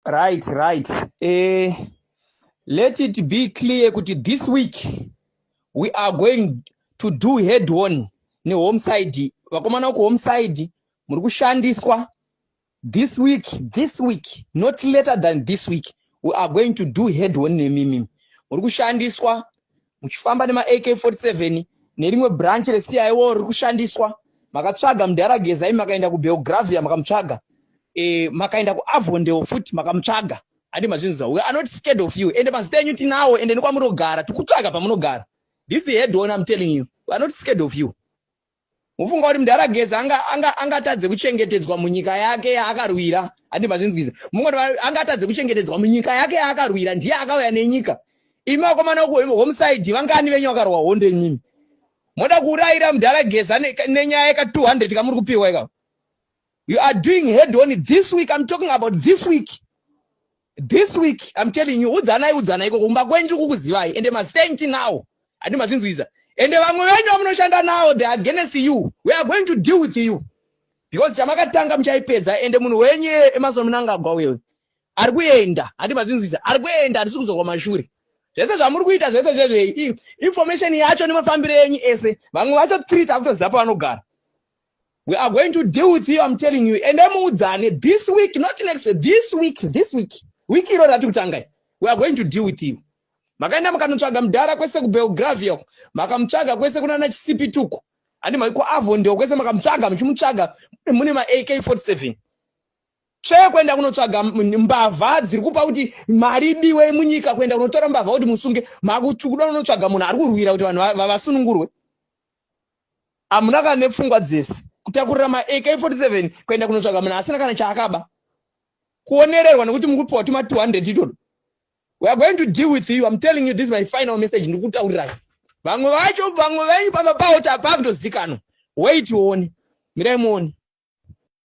right right eh, let it be clear kuti this week we are going to do head on nehome side vakomana uku home side muri kushandiswa this week this week not later than this week we are going to do head on nemimi muri kushandiswa muchifamba nema AK47 nerimwe branch re CIO riri kushandiswa makatsvaga mudhara Gezai makaenda ku Belgravia makamutsvaga eh makaenda ku Avondale futi makamutsvaga handi mazvinzwa we are not scared of you ende mazita enyu tinawo ende nekwamunogara tikutsvaga pamunogara this head on I'm telling you we are not scared of you Mufunga kuti mdara Geza anga anga angatadze kuchengetedzwa munyika yake yaakarwira ati mazvinzwiza munga kuti angatadze kuchengetedzwa munyika yake yaakarwira ndiye akauya nenyika imi vakomana uku home side vangani venyu vakarwa hondo imimi moda kuurayira mdara Geza nenyaya yeka 200 kamuri kupiwa ikako you are doing head on this week i'm talking about this week this week i'm telling you udzanai udzanai ikoko kumba kwenju kukuzivai ende masaint now handi mazvinzwiza ende vamwe venyu vamunoshanda navo the against you we are going to deal with you because chamakatanga muchaipedza ende munhu wenyu emasono munangagwa wewe ari kuenda handi mazvinzwiza ari kuenda handisi kuzorwa mashure zvese zvamuri kuita zvese zvezvei information yacho nemafambiro enyu ese vamwe vacho three takutoziva pavanogara we are going to deal with you i'm telling you ende muudzane this week not next this week this week week iro rati kutangai we are going to deal with you makaenda makanotsvaga mudhara kwese kubelgravia uko makamutsvaga kwese kunana chisipi tuko handi maiko avo ndio kwese makamutsvaga muchimutsvaga mune ma ak 47 tsvee kuenda kunotsvaga mbavha dziri kupa kuti mari diwe munyika kuenda kunotora mbavha kuti musunge makuda kunotsvaga munhu ari kurwira kuti vanhu vasunungurwe hamuna kana nepfungwa dzese kutakurira maak 47 kuenda kunotsvaga munhu asina kana chaakaba kuonererwa nekuti mukupiwa tuma 200 itoto we are going to deal with you im telling you this my final message ndikutaurirai vamwe vacho vamwe venyu pamba pawo tapaa kutozikanwa wait uone mirai muone